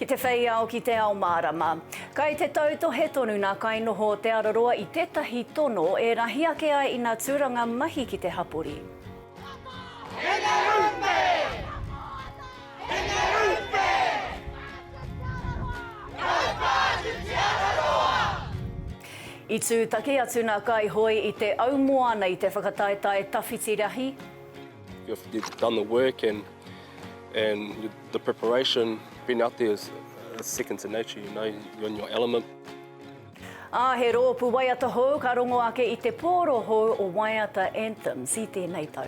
Ki te whei ao, ki te ao mārama. Kai te tautohe tonu nā kainoho o Te Araroa i tētahi tono e rahi ake ai ina tūranga mahi ki te hapori. I tūtaki atu nā Kaihoe i te au moana i te whakataetae tawhiti rahi. You've you've done the work and and the preparation, being out there is second to nature, you know, you're in your element. Ā, he roopu waiata hou ka rongo ake i te pooro hou o Waiata Anthems i tēnei tau.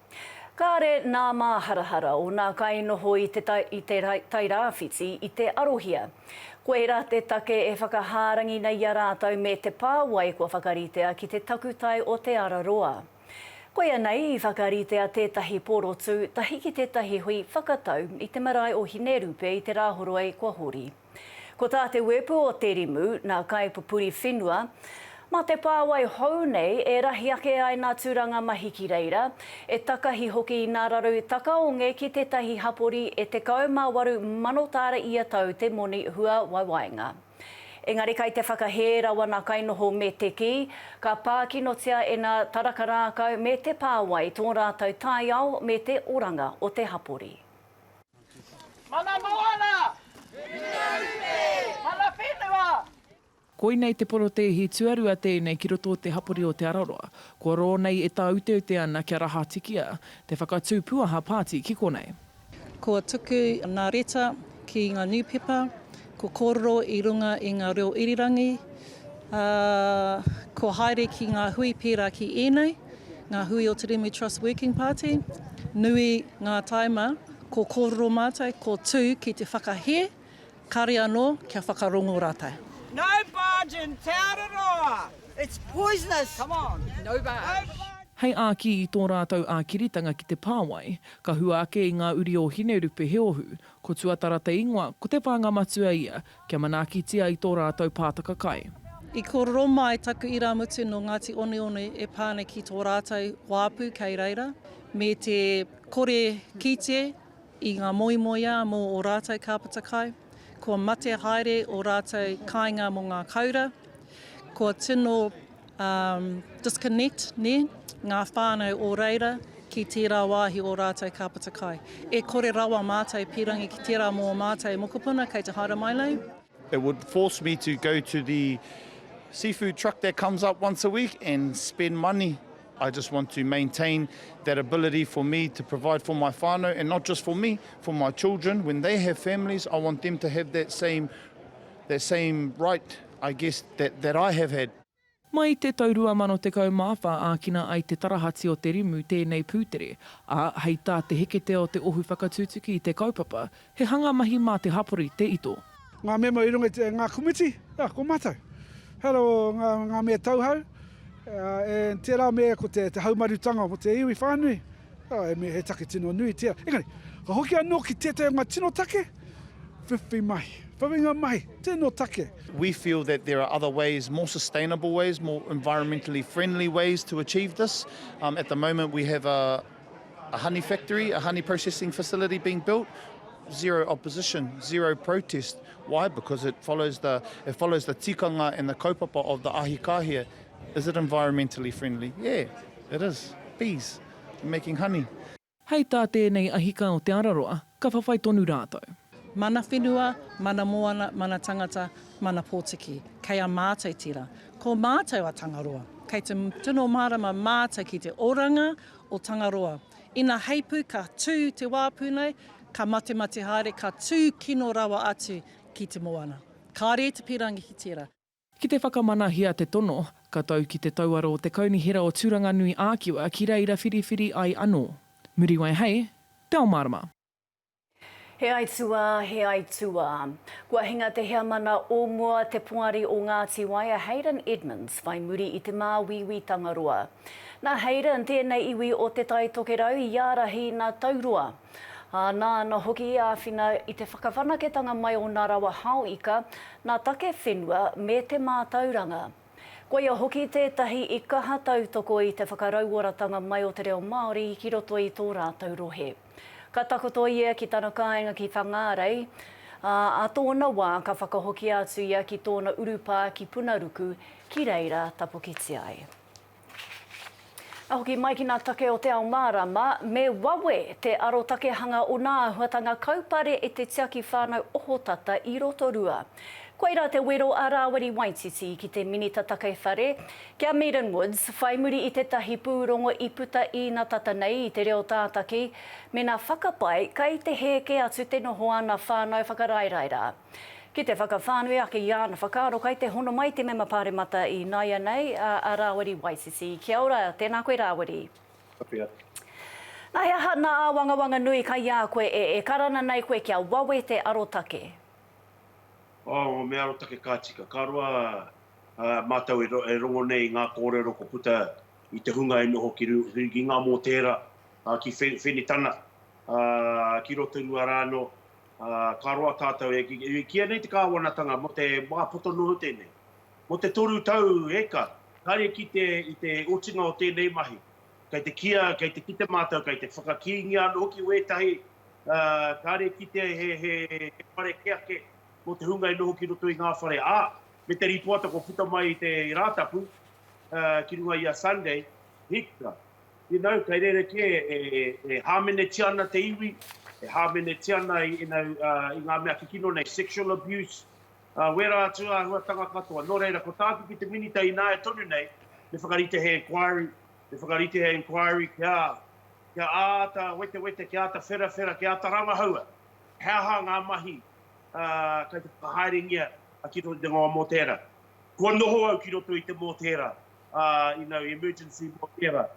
Kāre nā māharahara o nā kainoho i te i te Tairāwhiti i te arohia. Koirā te take e whakahārangi nei i a rātou me te pāwai kua whakaritea ki te takutai o Te Araroa. Koia nei i whakaritea tētahi porotu tahi ki tētahi hui whakatau i te marae o Hinerupe i te Rāhoroi kua hori. Ko tā te wēpu o Te Rimu, nā Kaipupuri Whenua, Mā te pāwai hou nei e rahi ake ai nā Tūranga Mahi ki reira, e takahi hoki i nā raru takaonge ki tētahi hapori e 18 mano tāra ia tau te moni hua waiwainga. Engari kai te whakahē rawa nā kainoho me te kī, ka pākinotia e nā taraka rākau me te pāwai tō rātau taiao me te oranga o te hapori. Mana moana! Whenua rupe! Mana whenua! Koinei te porotēhi tuarua tēnei ki roto o te hapori o Te Araroa. Kua rō nei e tāuteute ana kia rahatikia te whakatū puaha pāti ki konei. Kua tuku ngā reta ki ngā niupepa Ko kōrero i runga i ngā reo irirangi, ā, kua haere ki ngā hui pērā ki ēnei, ngā hui o Te Remu Trust Working Party, nui ngā taima ko kōrero mātou, ko tū ki te whakahē, kāre anō kia whakarongo rātou. No barge in Te Araroa! It's poisonous! Come on! No barge! Hei āki i tō rātou ākiritanga ki te pāwai, ka hua ake i ngā uri o Hinerupe he ohu, Ko Tuatara te ingoa, ko Te Whānga Matua ia, kia manaakitia i tō rātou pātaka kai. I kōrero mai taku irāmutu nō Ngāti Oneone e pā ana ki tō rātou wāpu kei reira, me te kore kite i ngā moemoeā mō ō rātou kāpata kai, kua mate haere ō rātou kāinga mō ngā koura, kua tino Um, disconnect, ne, ngā whānau o reira ki tērā wāhi o rātou ka puta kai. E kore rawa mātou pīrangi ki tērā mō mātou mokopuna kei te haere mai nei. It would force me to go to the seafood truck that comes up once a week and spend money. I just want to maintain that ability for me to provide for my whānau and not just for me, for my children. When they have families, I want them to have that same That same right I guess that that I have had. Mai i te tau 2014 ākina ai te tarahati o te rimu tēnei pūtere, ā, hei tā te heketea o te ohu whakatutuki i te kaupapa, he hanga mahi mā te hapori te ito. Ngā mema i runga i ngā komiti, ā, ko mātou. He aha rā ngā mea tauhou, ā, tērā me ko te haumarutanga mō te iwi whānui. He mea he take tino nui tia. Engari, ka hoki anō ki tētahi o ngā tino take, whiwhi mahi, whawinga mahi, tino take. We feel that there are other ways, more sustainable ways, more environmentally friendly ways to achieve this. At the moment we have a honey factory, a honey processing facility being built, zero opposition, zero protest. Why? Because it follows the tikanga and the kaupapa of the Ahikahia. Is it environmentally friendly? Yeah. It is. Bees. Making honey. Hei tā tēnei ahika o Te Araroa, ka whawhai tonu rātou. Mana whenua, mana moana, mana tangata, mana potiki. Kei a mātou tera. Ko mātou a Tangaroa. Kei te tino mārama mātou ki te oranga o Tangaroa. Ina heipū ka tū te wāpu nei, ka matemate haere, ka tū kino rawa atu ki te moana. Kāre te pirangi ki tera. Ki te whakamanahia te tono, ka tau ki te tauaro o te Kaunihera o Tūranganui ā-Kiwa ki reira whiriwhiri ai anō. Muriwai hei Te Ao Mārama. He aituā, he aituā. Kua hinga te heamana o mua te Poari o Ngāti Wai a Haydn Edmonds whai muri i te māuiui Tangaroa. Nā Haydn tēnei iwi o Te Tai Tokerau i ārahi nā Tauroa. Ā, nāna hoki i āwhina i te whakawhanaketanga mai o nā rawa hao ika, nā take whenua, me te mātauranga. Koia hoki tētahi i kaha tautoko i te whakarauoratanga mai o te reo Māori ki roto i tō rātou rohe. Ka takoto ia ki tana kāinga ki Whangārei, ā, ā tōna wā ka whakahokia atu ia ki tōna urupā ki Punaruku, ki reira tapukitia ai. Ka hoki mai ki ngā take o Te Ao Mārama, me wawe te arotakehanga o ngā āhuatanga kaupare e te tiaki whānau ohotata i Rotorua. Koirā te wero a Rāwiri Waititi ki te Minita Take Whare, ki a Meaden Woods, whai muri i tētahi pūrongo i puta īna tata nei i te reo tātaki, mēnā whakapae kai te hē kē atu te noho āna whānau whakaraeraerā. Ki te whakawhānui ake i āna whakaaro kai te hono mai te mema Pāremata i nāianei, a Rāwiri Waisisi. Kia ora, tēnā koe Rāwiri. Kapi atu. Nā he aha nā āwangawanga nui kai a koe e e karana nei koe kia wawe te arotake? Oh, me arotake ka tika. Ka roa mātou e rongo nei i ngā kōrero kua puta i te hunga e noho ki Ngā Mōtēra, ki Whenitana, ki Rotorua rānō, Ā, ka roa tātou e kīa nei te kāwanatanga mō te wā poto noa tēnei, mō te toru tau eka, kāre kite i te otinga o tēnei mahi. Kei te kīa, kei te kite mātou, kei te whakakīngia anō hoki wētahi, ā, kāre kite he, he, he whare kē ake mō te hunga e noho ki roto i ngā whare, ā, me te rīpoata kua puta mai i te Rātapu, ā, ki runga i a Sunday, hika. You know, kei rerekē e hāmenetia ana te iwi, e hāmenetia ana i ngā mea kikino nei, sexual abuse, wērā atu āhuatanga katoa. Nō reira, ko tāku ki te Minita ināia tonu nei, me whakarite he inquiry, me whakarite he inquiry kia āta wetewete, kia āta wherawhera, kia āta rangahaua he aha ngā mahi kei te whakahaerengia ki roto i te ngawa mōtēra. Kua noho au ki roto i te mōtēra, you know, emergency mō tērā.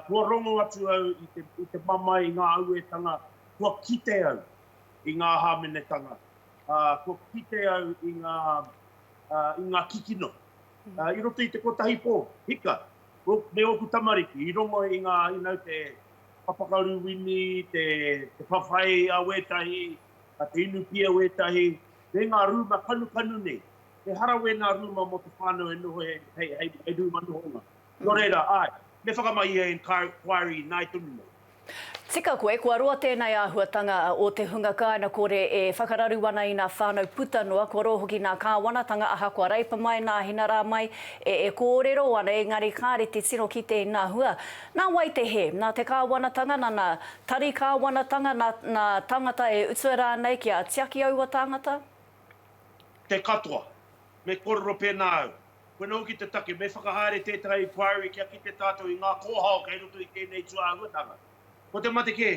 Kua rongo atu au i te mamae i ngā auētanga, kua kite au i ngā hāmenetanga, kua kite au i ngā, i ngā kikino. I roto i te kotahi pō, hika, me ōku tamariki, i rongo i ngā, you know, te papakaru wini, te whawhai a wētahi, te inu pia wētahi, me ngā rūma kanukanu nei. Ehara wēnā rūma mō te whānau e noho hei rūma nohonga. Nō reira, āe, me whakamā ia e Inquiry ināi tonu nei. Tika koe, kua roa tēnei āhuatanga o te hunga kāina kore e whakararu ana inā whānau puta noa, kua roa hoki nā kāwanatanga ahakoa Reipa mai, nā Hina rā mai, e e kōrero ana, engari kāre te tino kite inā hua. Nā wai te hē? Nā te kāwanatanga, nana, tari kāwanatanga, nā, nā tāngata e utua rānei kia tiaki aua tāngata? te katoa. Me kōrero pēnā au. Koe noa hoki te take, me whakahaere tēteha inquiry kia kite tātou i ngā kōhao kei roto i tēnei tūāhuatanga. Ko te mate kē,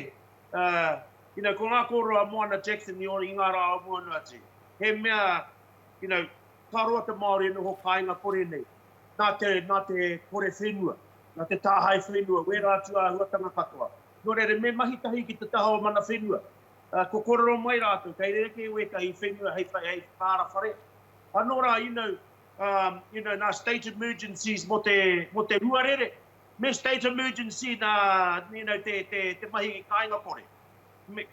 you know, ko ngā kōrero a Moana Jackson i ngā rā o mua noa atu, he mea, you know, ka roa te Māori e noho kāinga kore nei, nā te, nā te kore whenua, nā te tāhae whenua, wērā tūāhuatanga katoa. Nō reira, me mahi tahi ki te taha o mana whenua. Ko korero mai rātou, kei rerekē wētahi whenua hei whakaara whare. Anō rā, you know, you know, nā state emergencies mō te, mō te huarere, me state emergency nā, you know, te, te, te mahi kāinga kore.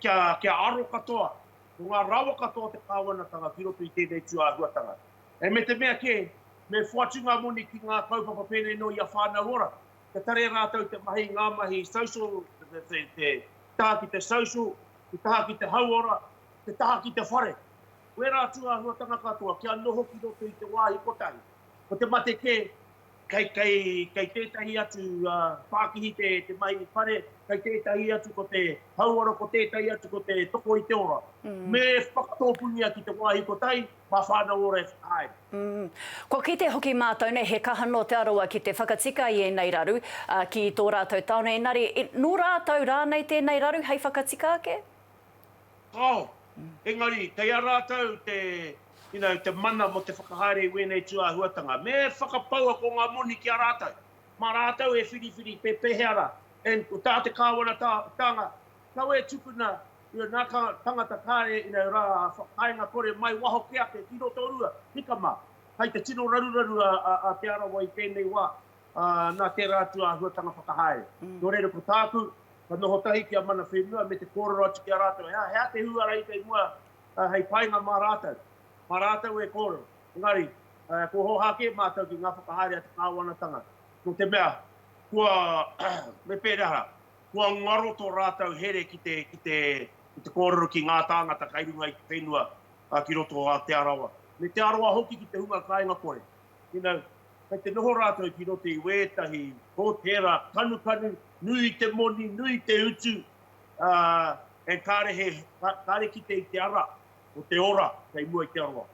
Kia, kia aro katoa, ko ngā rawa katoa o te Kāwanatanga ki roto i tēnei tū āhuatanga. E me te mea kē, me whoatu ngā moni ki ngā kaupapa pēnei nō ia Whānau Ora. kia tare rātou te mahi, ngā mahi social, te taha ki te social, te taha ki te hauora, te taha ki te whare. Ko ērā tūāhuatanga katoa kia noho ki roto i te wāhi kotahi. Ko te mate kē, kei, kei, kei tētahi atu uh, pākihi te, te mahi whare, kei tētahi atu ko te hauora, ko tētahi atu ko te toko i te ora. Mm. Me whakatōpungia ki te wāhi kotahi, My whānau ora e whakahaere. Umm. Kua kite hoki mātou nei he kaha nō Te Arawa ki te whakatika i ēnei raru, ā, ki tō rātou tāone engari, nō rātou rānei tēnei raru hei whakatika ake? Kāo. Engari, kei a rātou te, you know, te mana mō te whakahaere i wēnei tūāhuatanga. Me whakapau ako ngā moni ki a rātou. Mā rātou e whiriwhiri pe pehea rā. And ko tā te Kāwana-tānga, kawe tukuna Ia nā ka tangata kāre inau rā a whakaenga kore mai waho ke ake ki Rotorua, hika mā. Kai te tino raruraru a Te Arawa i tēnei wā, ā, nā tērā atu āhuatanga whakahaere. Nō reira ko tāku, ka noho tahi ki a Mana Whenua me te kōrero atu ki a rātou, he aha, he aha te hūara i kei mua hei painga mā rātou, mā rātou e kōrero. Engari, kua hōhā kē mātou ki ngā whakahaere a te kāwanatanga, nō te mea, kua, me pēreha rā. Kua ngaro tō rātou here ki te, ki te, ki te kōrero ki ngā tāngata kai runga i te whenua ki roto o Aote Arawa, me Te Arawa hoki ki te hunga kāinga kore. You know, kei te noho rātou ki roto i wētahi hōtēra kanukanu, nui te moni, nui te utu, ā, and kāre he, kāre kite i te ara o te ora kei mua i Te Arawa.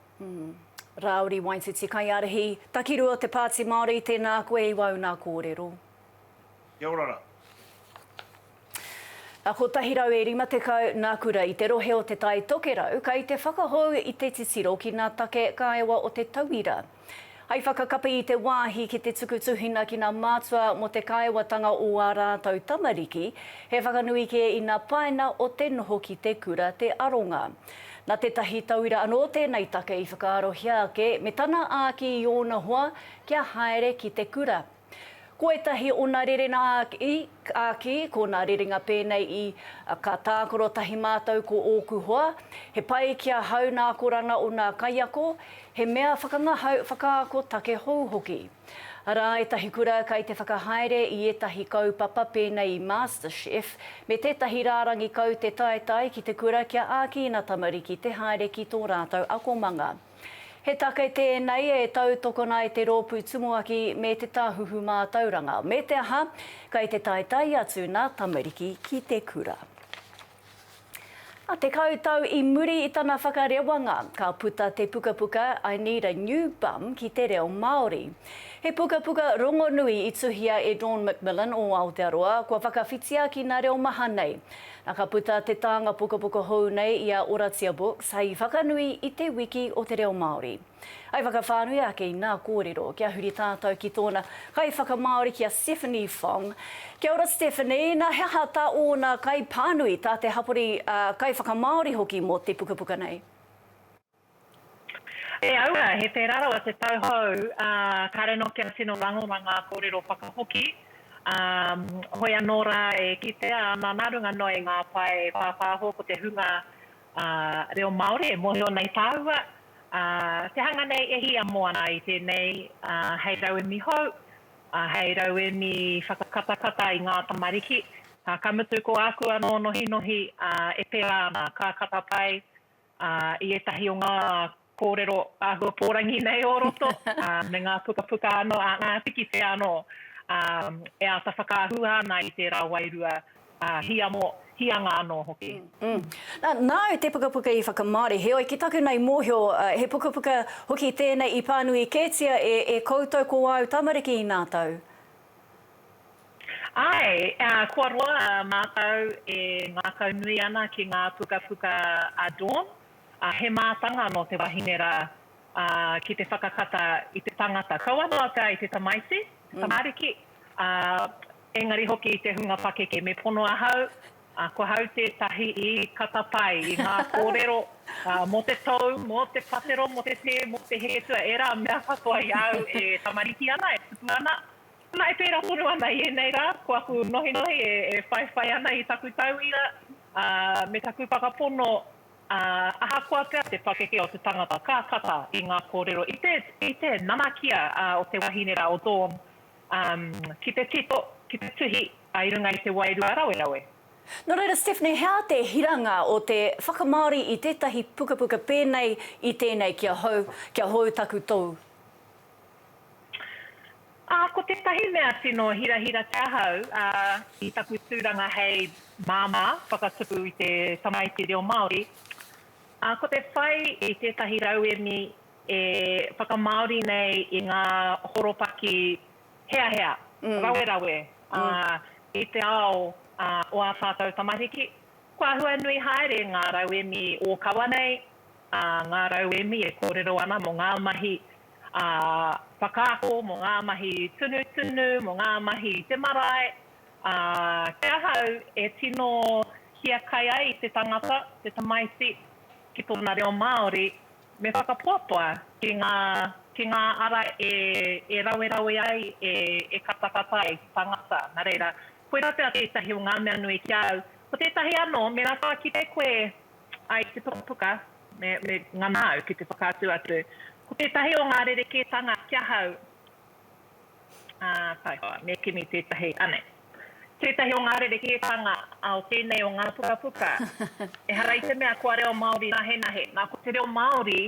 Rāuri Waititi Kaiārahi, Takirua te Pāti Māori, tēnā koe i wāu nā kōrero. Kia ora ra. A 150 na kura i te rohe o Te Tai Tokerau kai te whakahou i te titiro ki na take kaewa o te tauira. Hai whakakapi i te wahi ki te tuku tuhina ki na matua mo te kaewatanga o a ratou tamariki, he whakanui ke i na paina o te noho ki te kura te aronga. Na tetahi tauira ano tenei take i whakaarohia ake me tana aki i ona hoa kia haere ki te kura. Ko ētahi ona rerena āki, ko nā rerenga pēnei i, Ka tākaro tahi mātou ko ōku hoa, He pai ki ahau nā akoranga o nā kaiako, He mea whakangahau, whakaako take hou hoki. Arā ētahi kura kai te whakahaere i ētahi kaupapa pēnei i MasterChef me tētahi rārangi kaute taetae ki te kura kia āki ina tamariki te haere ki tō rātou akomanga. He take tēnei e tautokona ai te rōpū tumuaki me te tāhuhu mātauranga, me te aha, kei te taetae atu nā tamariki ki te kura. Tekau tau i muri i tana whakarewanga, ka puta te pukapuka I Need a New Bum ki te reo Māori. He pukapuka rongonui i tuhia e Dawn McMillan o Aotearoa, kua whakawhitia ki nā reo maha nei. A ka puta te tānga pukapuka hou nei i a Oratia Books hei whakanui i te Wiki o te Reo Māori. I whakawhānui ake i nā kōrero kia huri tātou ki tōna kaiwhakamāori ki a Stephanie Fong. Kia ora Stephanie, nā he aha tā ōna kaipānui, tā te hapori, ā, kaiwhakamāori hoki mō te pukapuka nei? E aua, he pērā rawa te tau hou, ā, kāre anō kia tino rangona ngā kōrero whakahoki, ā, hoi anō rā e kitea ana nā runga noa i ngā pae pāpāho ko te hunga, ā, reo Māori e mōhio nei tāua, ā, te hanga nei e hiamoa ana i tēnei, ā, hei rauemi hou, ā, hei rauemi whakakatakata i ngā tamariki, ā, ka mutu ko āku anō nohinohi, ā, e pērā ana, ka kata pai, i ētahi o ngā kōrero āhua pōrangi nei o roto, me ngā pukapuka anō, ngā piki pea anō e āta whakaahua ana i tērā wairua hiamo, hianga anō hoki. Nāu te pukapuka i whakamāori, heoi ki taku nei mōhio, he pukapuka hoki tēnei i pānui kētia e koutou ko āu tamariki i nā tau? Āe, kua roa mātou e ngākau nui ana ki ngā pukapuka a Dawn, he mātanga nō te wahine rā ki te whakakata i te tangata. Kaua noa pea i te tamaiti, te tamariki, engari hoki i te hunga pakeke. Me pono ahau, Ko hau tētahi i kata pai i ngā kōrero mō te tou, mō te patero, mō te tē, mō te hētua, ērā mea katoa i a au e tamariki ana, e tupu ana. Nā, e pērā tonu ana i ēnei rā, ko aku nohinohi e whaiwhai ana i taku tauira me taku whakapono, ahakoa pea te pakeke o te tangata ka kata i ngā kōrero i te nanakia o te wahine rā, o Dawn, Ki te tito, ki te tuhi i runga i te wairua rawerawe. Nō reira, Stephanie, he aha te hiranga o te whakamāori i tētahi pukapuka pēnei i tēnei ki ahau, kia hou taku tou? Ko tētahi mea tino hirahira te ahau i taku tūranga hei māmā whakatupu i te tamaiti reo Māori, ko te whai i tētahi rauemi e whakamāori nei i ngā horopaki heahea, rawerawe, ā, i te ao o ā tātou tamariki. Kua hua nui haere ngā rauemi ōkawa nei, ā, ngā rauemi e kōrero ana mō ngā mahi whakaako, mō ngā mahi tunutunu, mō ngā mahi i te marae, ā, kia ahau e tino hiakai ai te tangata, te tamaiti, ki tōna reo Māori. Me whakapoapoa ki ngā, ki ngā ara e, e rawerawe ai, e, e katakata ai te tangata. Nā reira, koirā pea tētahi o ngā mea nui ki a au. Ko tētahi anō, me rākau kite koe ai ki te pukapuka, me, me ngana au ki te whakaatu atu. Ko tētahi o ngā rerekētanga ki ahau, Ā, taihoa, me kimi tētahi, anei. Tētahi o ngā rerehītanga o tēnei o ngā pukapuka, ehara i te mea kua reo Māori nahenahe, nā, ko te reo Māori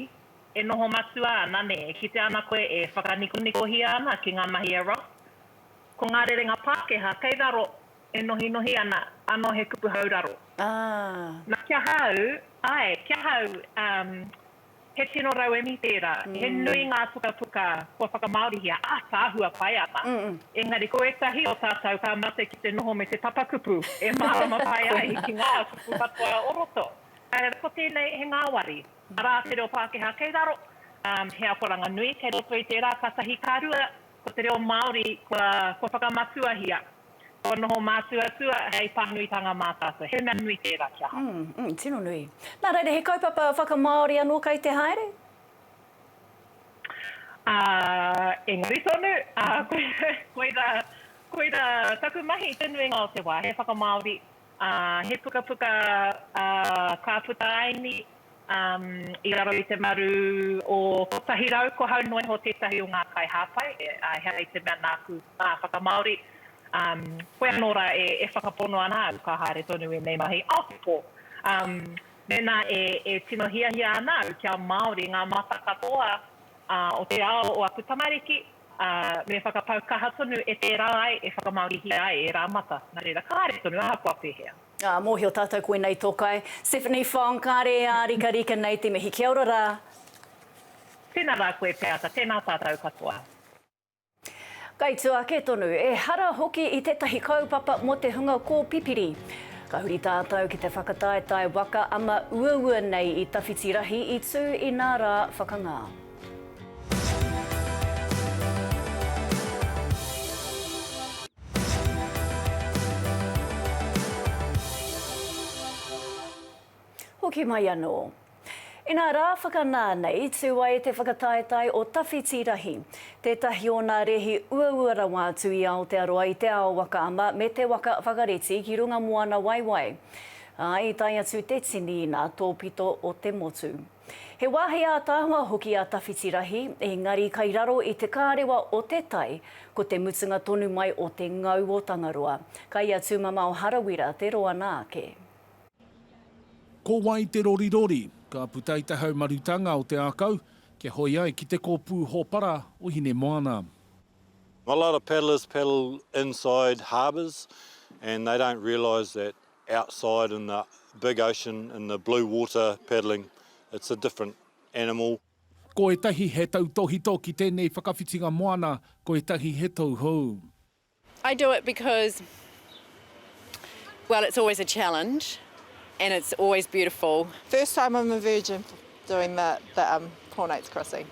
e noho matua ana, nē, e kitea ana koe e whakanikonikohia ana ki ngā mahi a Ross. Ko ngā rerenga Pākehā kei raro e nohinohi ana, anō he kupu hauraro. Ā. Nā, ki ahau, āe, ki ahau, umm, He tino rauemi tērā, he nui ngā pukapuka kua whakamāorihia, ātaahua pai ana. Engari ko ētahi o tātou ka mate ki te noho me te papakupu e mārama pai ai ki ngā kupu katoa o roto. Ā, ko tēnei he ngāwari, arā, te reo Pākehā kei raro, ā, he akoranga nui kei roto i tērā, kātahi ka rua, ko te reo Māori kua whakamatuahia. Kua noho mātua tua hei pānuitanga mā tātou. He mea nui tērā kia haere. Mm, mm, tino nui. Nā reira, he kaupapa whakamāori anō kei te haere? Ā, engari tonu, ā, koira, koira, koira taku mahi i te nuinga o te wā, he whakamāori, He pukapuka ka puta ai ni i raro i te maru o kotahi rau, ko hau noa iho tetahi o nga kai hapai, ehara i te mea naku a whakamaori, koe ano ra e whakapono ana au ka haere tonu enei mahi aotepo. Mena e tino hiahia ana au kia maori nga mata katoa o te ao o aku tamariki, ā, me whakapau kaha tonu e tērā ai e whakamāorihia ai ērā mata, nā reira, kāre tonu ahakoa pēhea. Ā, mōhio tātou koinei tō kai. Stephanie Fong, kāre e ārikarika nei te mihi. Kia ora rā. Tēnā rā koe Peata, tēnā tātou katoa. Kai tua ake tonu, ehara hoki i tētahi kaupapa mō te hunga kōpipiri. Ka huri tātou ki te whakataetae waka ama uaua nei i tawhiti rahi i tū inā rā whakangā. Hoki mai anō. Inā rā whakanā nei, tū ai te whakataetae o Tawhiti Rahi, tētahi o nā rēhi uaua rawa atu i Aotearoa i te ao waka ama me te waka whakareti ki runga moana waewae. Ā, i tae atu te tini inā tōpito o te motu. He wāhi ātaahua hoki a Tawhiti Rahi, engari kai raro i te kārewa o te tai, ko te mutunga tonu mai o te ngau o Tangaroa. Kai a Tūmamao Harawira te roa nā ake. Ko wai te rorirori? Ka puta i te haumarutanga o te ākau, kia hoi ai ki te kōpū hōpara o Hinemoana. A lot of paddlers paddle inside harbours and they don't realise that outside in the big ocean in the blue water paddling it's a different animal. Ko ētahi he tautōhito ki tēnei whakawhitinga moana, ko ētahi he tauhou. I do it because well it's always a challenge and it's always beautiful. First time I'm a virgin doing the the um Poor Knights Crossing.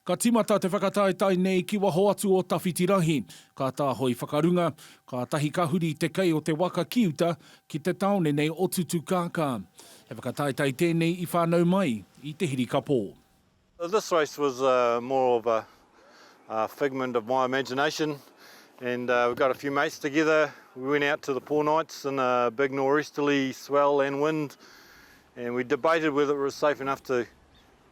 Ka tīmata te whakataetae nei ki waho atu o Tawhitirahi. Ka tāhoi whakarunga, kātahi ka huri te kei o te waka ki uta, ki te tāone nei o Tutukākā. He whakataetae tēnei i whānau mai i te hirikapō. This race was more of a figment of my imagination and we got a few mates together, we went out to the Four Knights in a big nor'easterly swell and wind and we debated whether it was safe enough to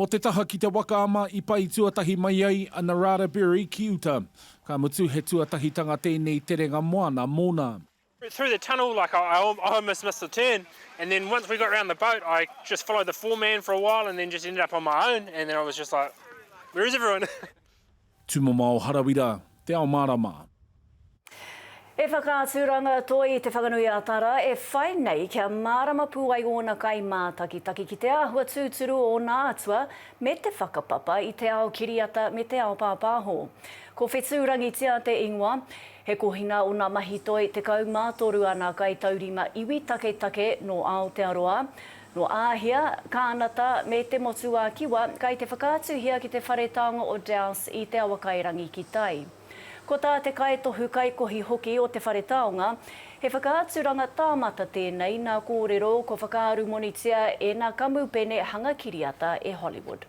Mō te taha ki Te Waka ama i pai tuatahi mai ai a Narada Berry ki uta. Ka mutu he tuatahitanga tēnei terenga moana mōna. through the tunnel like I almost missed the turn and then once we got round the boat I just followed the foreman for a while and then just ended up on my own and then I was just like where is everyone? Tumamao Harawira, Te Ao Marama. He whakaaturanga toi i Te Whanganui-a-Tara e whai nei kia mārama pū ai ōna kaimātakitaki ki te āhua tūturu o ōna atua me te whakapapa i te ao kiriata me te ao pāpāho. Ko Whetū Rangitia te ingoa. He kohinga o nā mahi toi 13 āna kaitaurima iwi taketake nō Aotearoa, Nō Āhia, Kānata, me te Motu-ā-Kiwa, kai te whakaatuhia ki te Whare Taonga o Dowse i Te Awakairangi ki tai. Ko tā te Kaitohu Kaikohi hoki o te Whare Taonga, he whakaaturanga tāmata tēnei nā kōrero kua whakaarumonitia e nā kamupene hanga kiriata e Hollywood.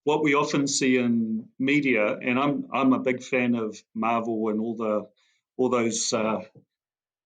What we often see in media, and I'm I'm a big fan of Marvel and all the all those uh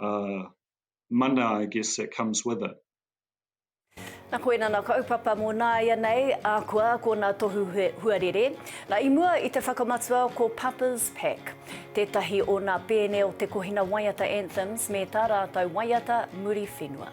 uh, mana, I guess, that comes with it. Na koina na kaupapa mo naia nei, a kua ko na tohu huarere. Na i mua i te whakamatua ko Papa's Pack. Tetahi o na pene o te kohina waiata anthems me ta ratou waiata muri whenua.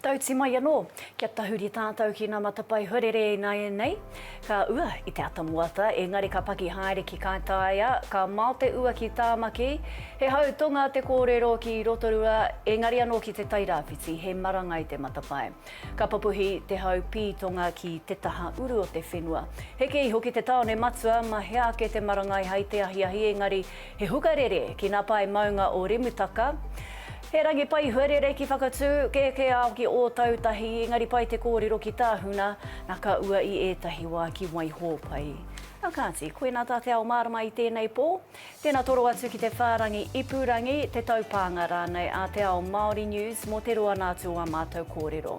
Tauti mai anō, kia tahuri tātou ki ngā matapae huarere ināianei. Ka ua i te ata moata, engari ka paki haere ki Kātaia, ka mao te ua ki Tāmaki. He hau tonga te kōrero ki Rotorua, engari anō ki Te Tai Rāwhiti, he marangai te matapae. Ka papuhi te hau pī tonga ki te taha uru o te whenua. Heke iho ki te tāone matua, mahea ake te marangai hai te ahiahi, engari He hukarere ki na pae maunga o Remutaka. He rangi pai huarere ki Whakatū, kēkē ao ki Ōtautahi, engari pai te kōrero ki Tāhuna, na ka ua i ētahi wā ki Waihōpai. Na kāti, koina tā te ao mārama i tēnei pō. Tēna toro atu ki te whārangi ipurangi, te taupānga rānei a Te Ao Māori News mō te roa nā atu o ā mātou kōrero.